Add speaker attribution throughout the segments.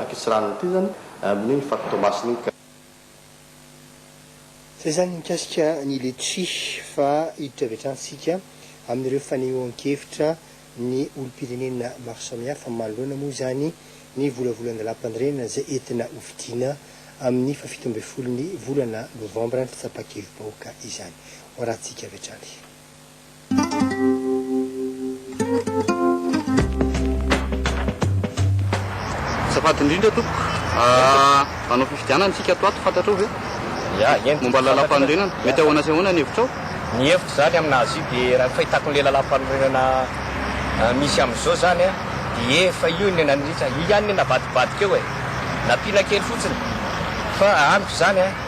Speaker 1: Akitsy rano ity zany amin iny fakotomasina iny ka.
Speaker 2: Zay zany mikasika ny letchi fa hiditra avy hatrany tsika amin'ireo fanehoan-kevitra ny olom-pirenena maro samihafa manoloana moa izany ny volavolan-dalàm-panorenana izay entina ho fidiana amin'ny fahafito ambin'ny folon'ny volana novambra ny fitsapa-kevi-bahoaka izany. Ho arahintsika avy hatrany.
Speaker 1: Azafady indrindra tompoko, hanao fifidianana isika ato ato, fantatrao ve? Ya, eny. Momba ny lalàmpanorenana, mety ahoana sy ahoana ny hevitrao? Ny hevitro izany
Speaker 3: amin'azy io dia raha ny fahitako an'ilay lalàmpanorenana misy amin'izao izany dia efa io no nandritra, io ihany no navadibadika eo e, nampiana kely fotsiny fa amiko izany a.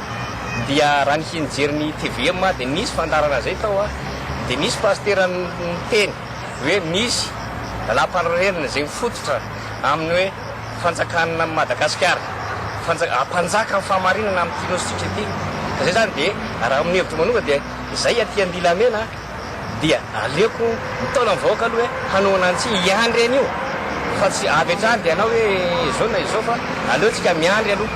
Speaker 3: dia raha ny hijery ny tvm dia nisy fandaharana zay tao dia nisy pasitera niteny hoe misy lalàmpanorenana izay mifototra amin'ny hoe fanjakana Madagasikara fanja- hampanjaka ny fahamarinana amin'ity nosintsika ity ka zay zany dia raha amin'ny hevitro manokana dia zay aty andilamena dia aleoko mitaona ny vahoaka aloha hoe hanohana an'i tsy hiandry an'io fa tsy avy hatrany dia hanao hoe izao na izao fa aleo tsika miandry aloha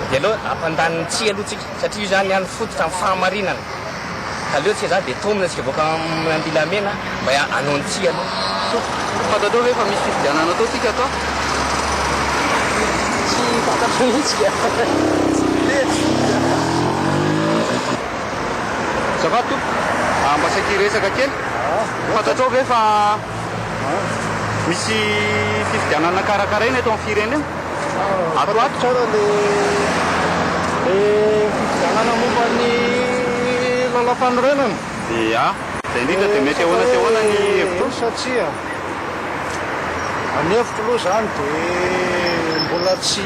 Speaker 3: dia aleo hampandany ny tsy aloha tsika satria io zany any fototra ny fahamarinana ka aleo tsika zany dia tomina tsika voaka amin'ny andilamena mba hanao ny tsy aloha. Fantatrao
Speaker 1: ve fa misy fifidianana atao tsika ato? Tsy fantatro mihitsy ka. Tsy mety. Azafady tompoko a mba saika hiresaka kely fantatrao ve fa misy fifidianana karakaraina eto amin'ny firenena ato ho ato? Tsara le
Speaker 4: le fifidianana momba ny lalampanorenana. Ia, izay
Speaker 1: indrindra dia mety ahoana sy ahoana ny hevitrao? Satria
Speaker 4: a ny hevitro aloha izany dia mbola tsy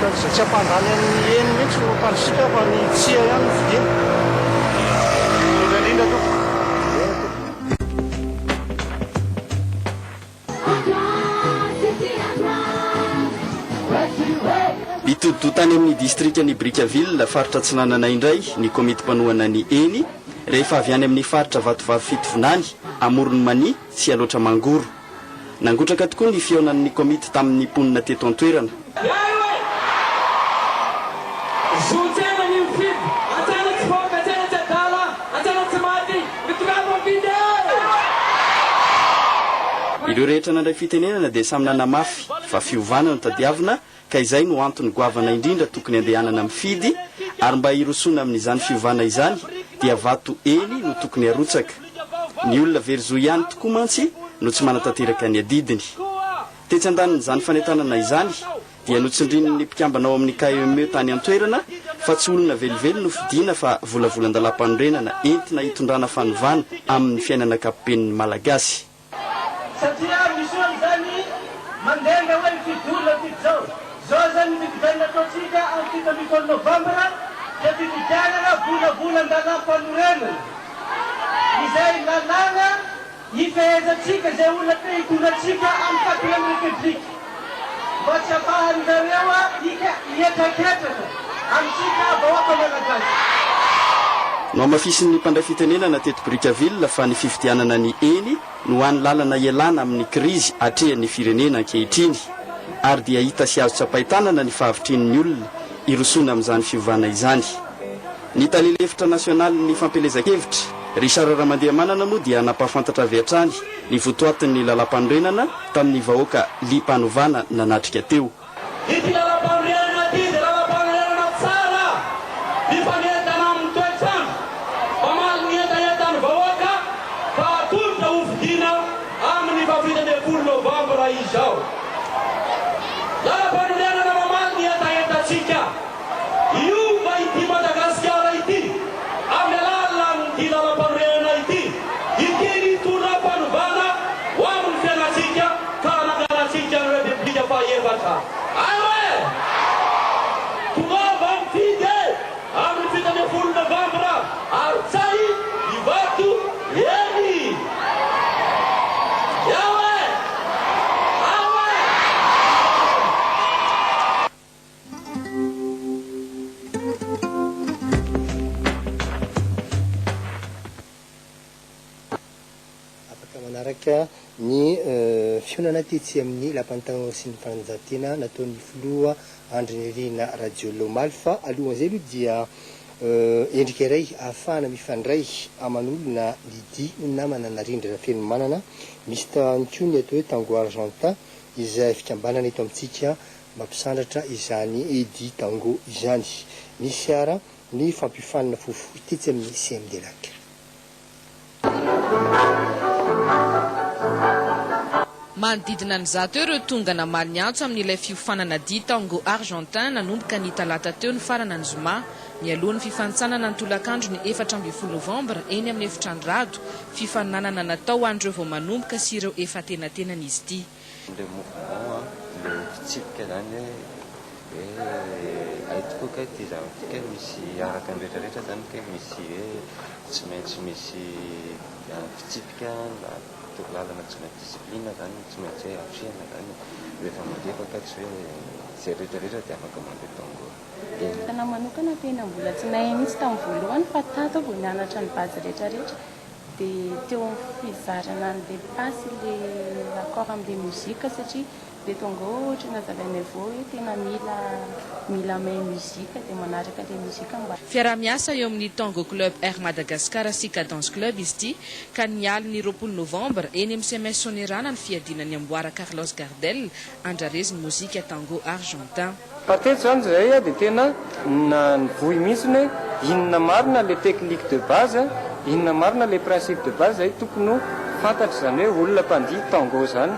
Speaker 4: Fa izay tsy hampandany an'i Eny mihitsy no hampandrisika fa ny tsia ihany no fidiny. Indrindra indrindra tompoko.
Speaker 5: Eny tompoko. Hitodi-doha tany amin'ny distrikan'i Brickaville, faritra Atsinanana indray ny komity mpanohana ny Eny, rehefa avy any amin'ny faritra Vatovavy Fitovinany, Amoron'i Mania, Tsialoatra Mangoro. Nangotraka tokoa ny fihaonan'ny komity tamin'ny mponina teto an-toerana. Ireo rehetra nandray fitenenana dia samy nanamafy fa fiovana no tadiavina ka izay no antony goavana indrindra tokony andehanana mifidy, ary mba hirosoana amin'izany fiovana izany dia vato eny no tokony harotsaka. Ny olona very zo ihany tokoa mantsy no tsy manatanteraka ny adidiny. Tetsy andanin'izany fanentanana izany dia notsindrin'ny mpikambana ao amin'ny KEME tany an-toerana fa tsy olona velively no fidiana fa volavolan-dalam-panorenana entina hitondrana fanovana amin'ny fiainana ankapoben'ny Malagasy. Satria
Speaker 6: misy olo zany mandenga hoe mifidy olona mifidy zao. Zao zany ny fifidianana ataontsika am fito ambin'ny folo novambra dia fifidianana volavolan-dalam panorenana. Izay lalàna ifehezantsika izay olona te hitondra antsika am quatrième république. Mba tsy afahanareo adika hihetraketraka amintsika vahoaka Malagasy.
Speaker 5: Nohamafisin'ny mpandray fitenenana teto Brickaville fa ny fifidianana ny eny no hany lalana hialana amin'ny krizy atrehan'ny firenena ankehitriny ary dia hita sy azo tsapain-tanana ny fahavitrian'ny olona hirosoana amin'izany fiovana izany. Ny tale lefitra nasionalin'ny fampielezan-kevitra, Richard Ramandiamanana moa dia nampahafantatra avy hatrany ny votoatin'ny lalàmpanorenana tamin'ny vahoaka liam-panovana nanatrika teo. Ity lalàmpanorenana ity dia lalàmpanorenana tsara mifanentana amin'ny toetr'andro,
Speaker 6: mamaly ny hetahetan'ny vahoaka fa hatolotra hofidiana amin'ny fahafito ambin'ny folo novambra izao. Lalàmpanorenana mamaly ny hetahetantsika. Hiova ity Madagasikara ity amin'ny alalan'ity lalampanorenana ity, ity ny tonam-panovana ho amin'ny fiainantsika ka hananganantsika ny Repoblika faha-efatra. Ary e! Tongava mifidy e! Amin'ny fito ambin'ny folo novambra ary tsahy Ivato eny! Eo e! Ao e!
Speaker 2: Afaka manaraka ny fihaonana tetsy amin'ny Lapan'ny Tanora sy ny Fanatanjahantena nataon'ny Filoha Andry Nirina Rajoelina omaly fa alohan'izay aloha dia endrika iray ahafahana mifandray aman'olona ny dihy ho namana narindra Rafenomanana, misy ihany koa ny atao hoe Tango Argentin izay fikambanana eto amintsika Mampisandratra izany Eddy Tango izany ny fiara ny fampiofanana fohifohy tetsy amin'ny CMDLac.
Speaker 7: Manodidina ny zato eo ireo tonga namaly ny antso amin'ilay fiofanana dihy Tango Argentin nanomboka ny talata teo nifarana ny zoma, mialoha ny fifanintsanana ny tolakandro ny efatra ambin'ny folo novambra eny amin'ny Efitrano Rado, fifaninanana natao ho an'ireo vao manomboka sy ireo efa antenatenany izy ity. Ilay mouvement,
Speaker 8: ilay fitsipika izany hoe hay tokoa kay ity zavatra ity kay misy araka ny rehetra rehetra izany kay misy hoe tsy maintsy misy fitsipika na torolalana tsy maintsy discipline izany no tsy maintsy hoe atrehina izany e. Rehefa mandeha fa kay tsy hoe izay rehetra rehetra dia afaka mandeha tango eo. Ny ahy
Speaker 9: manokana tena mbola tsy nahay mihitsy tamin'ny voalohany fa tato aho vao nianatra ny base rehetra rehetra Dia teo amin'ny fizarana ny dépasse ilay raccord amin'ilay musique satria dia tonga eo ohatry ny nazavain'i Evo hoe tena mila mila mahay musique dia manaraka ilay musique mba Fiaraha-miasa eo amin'ny
Speaker 7: Tango Club Air Madagascar sy Cadence Club izy ity ka ny alin'ny roapolo novambra eny amin'ny CMS Soanierana ny fiadiana ny amboara Carlos Gardel andrarezy ny mozika tango argentin. Fa teto izany izahay
Speaker 10: a dia tena nivoy mihitsy ny hoe inona marina ilay technique de base, inona marina ilay principe de base izay tokony ho fantatry izany hoe olona mpandihy tango izany.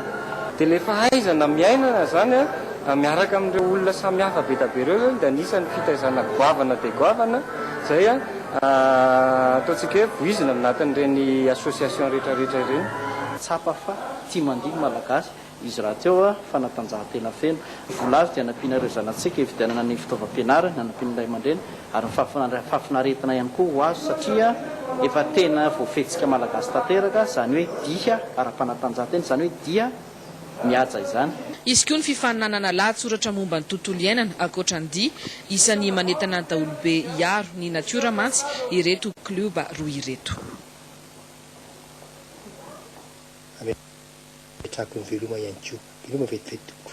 Speaker 10: Dia ilay fahaizana miaina izany a, miaraka amin'ireo olona samy hafa be dia be ireo izany dia anisan'ny fitaizana goavana dia goavana izay ataontsika hoe voizina ao anatin'ireny association rehetra rehetra ireny. Tsapa fa
Speaker 11: tsy mandihy ny Malagasy izy rahateo a, fanatanjahantena feno, vola avy dia nampiana ireo zanatsika hividianana ny fitaovam-pianarany, nanampian'ny ray aman-dreny ary ny fahafinarana, fahafinaretina ihany koa ho azy satria efa tena voafehitsika malagasy tanteraka izany hoe dihy ara-panatanjahantena, izany hoe dihy mihaja izany. Hisy koa ny fifaninanana
Speaker 7: lahatsoratra momba ny tontolo iainana ankoatra ny dihy, isan'ny manentana ny daholobe hiaro ny natiora mantsy ireto klioba roa ireto.
Speaker 2: Apetrako ny veloma ihany koa. Veloma vetivety tompoko.